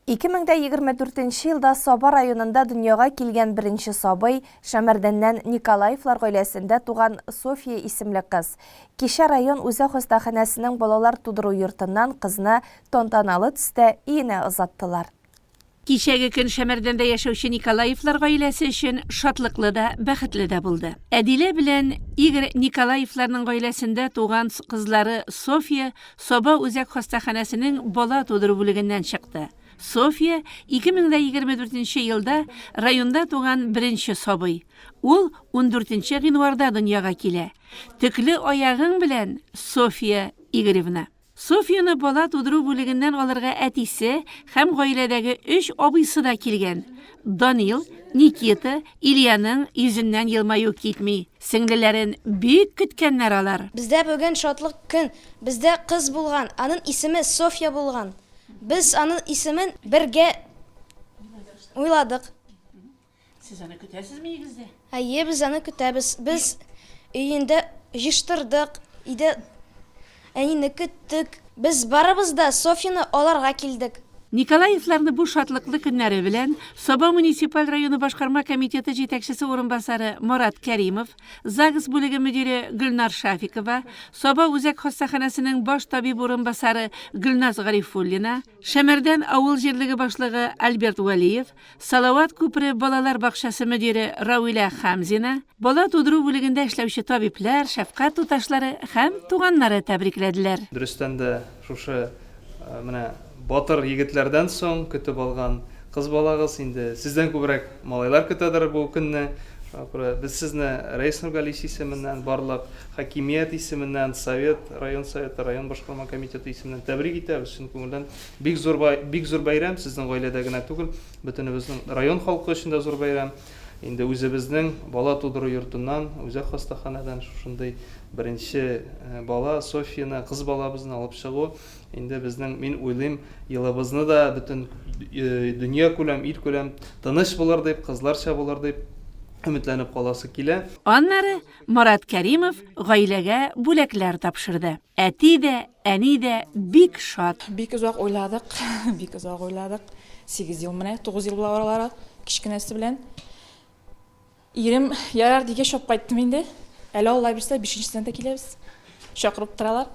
2024 нче елда Саба районында дөньяга килгән беренче сабый, Шәмәрдәннән Николаевлар гаиләсендә туган Софья исемле кыз. Кичә район үзәк хастаханәсенең балалар тудыру йортыннан кызны тантаналы төстә өенә озаттылар. Кичәге көн Шәмәрдәндә яшәүче Николаевлар гаиләсе өчен шатлыклы да, бәхетле дә булды. Әдилә белән Игорь Николаевларның гаиләсендә туган кызлары Софья, Саба үзәк хастаханәсенең бала тудыру бүлегеннән чыкты. Софья, 2024 нче елда районда туган беренче сабый. Ул ундүрт нче гыйнварда дөньяга килә. Төкле аягың белән, Софья Игоревна! Софьяны бала тудыру бүлегеннән алырга әтисе һәм гаиләдәге өч абыйсы да килгән, Данил, Никита, Ильяның йөзеннән елмаю китми. Сеңлеләрен бик көткәннәр алар. Бездә бүген шатлык көн. Бездә кыз булган, анын исеме Софья булган. Без анын исемен бергә уйладык. Сез аны көтәсезме нигездә? Әйе, без аны көтәбез. Без өендә җыштырдык, өйдә Әнине көттек. Без барыбыз да Софьяны аларга килдек. Николаевларны бу шатлыклы көннәре белән Саба муниципаль районы башкарма комитеты җитәкчесе урынбасары Марат Кәримов, ЗАГС бүлеге мөдире Гөлнар Шафикова, Саба үзәк хастаханәсенең баш табиб урынбасары Гөлназ Гарифуллина, Шәмәрдән авыл җирлеге башлыгы Альберт Вәлиев, Салават күпере балалар бакчасы мөдире Равилә Хәмзина, бала тудыру бүлегендә эшләүче табиблар, шәфкать туташлары һәм туганнары тәбрикләделәр. Дөрестән дә, шушы менә батыр егетләрдән соң көтеп алган кыз балагыз, инде сездән күбрәк малайлар көтәдер бу көнне. Шуңа күрә без сезне Рәис Нургалиевич исеменнән, барлык Хакимият исеменнән, Совет, район Советы, район башкарма комитеты исеменнән тәбрик итәбез, чын күңелдән. Бик зур бай, бик зур бәйрәм, сезнең гаиләдә генә түгел, бөтенебезнең, район халкы өчен дә зур бәйрәм. Инде үзебезнең бала тудыру йортыннан, үзәк хастаханәдән шушындый беренче бала, Софьяны, кыз балабызны алып чыгу, инде безнең, мин уйлыйм, елыбызны да бөтен дөньякүләм, илкүләм тыныч булыр дип, кызларча булыр дип өметләнеп каласы килә. Аннары Марат Кәримов гаиләгә бүләкләр тапшырды. Әти дә, әни дә бик шат. Бик озак уйладык, бик озак уйладык. Сигез ел менә, тугыз ел була аралары, кечкенәсе белән. Ирем, ярар, дигәч, чап кайттым инде. Әле Алла бирсә, бишенчесенә дә киләбез. Чакырып торалар.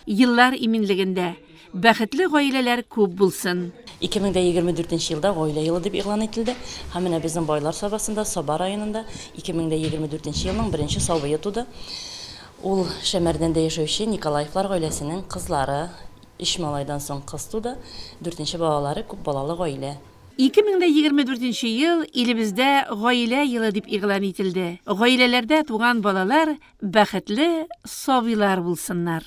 Еллар иминлегендә, бәхетле гаиләләр күп булсын! 2024 нче елда гаилә елы дип игълан ителде һәм менә безнең Байлар Сабасында, Саба районында 2024 нче елның беренче сабые туды. Ул Шәмәрдәндә яшәүче Николаевлар гаиләсенең кызлары, өч малайдан соң кыз туды, дүртенче балалары күп балалы гаилә. 2024 ел илебездә Гаилә елы дип игълан ителде. Гаиләләрдә туган балалар бәхетле сабыйлар булсыннар!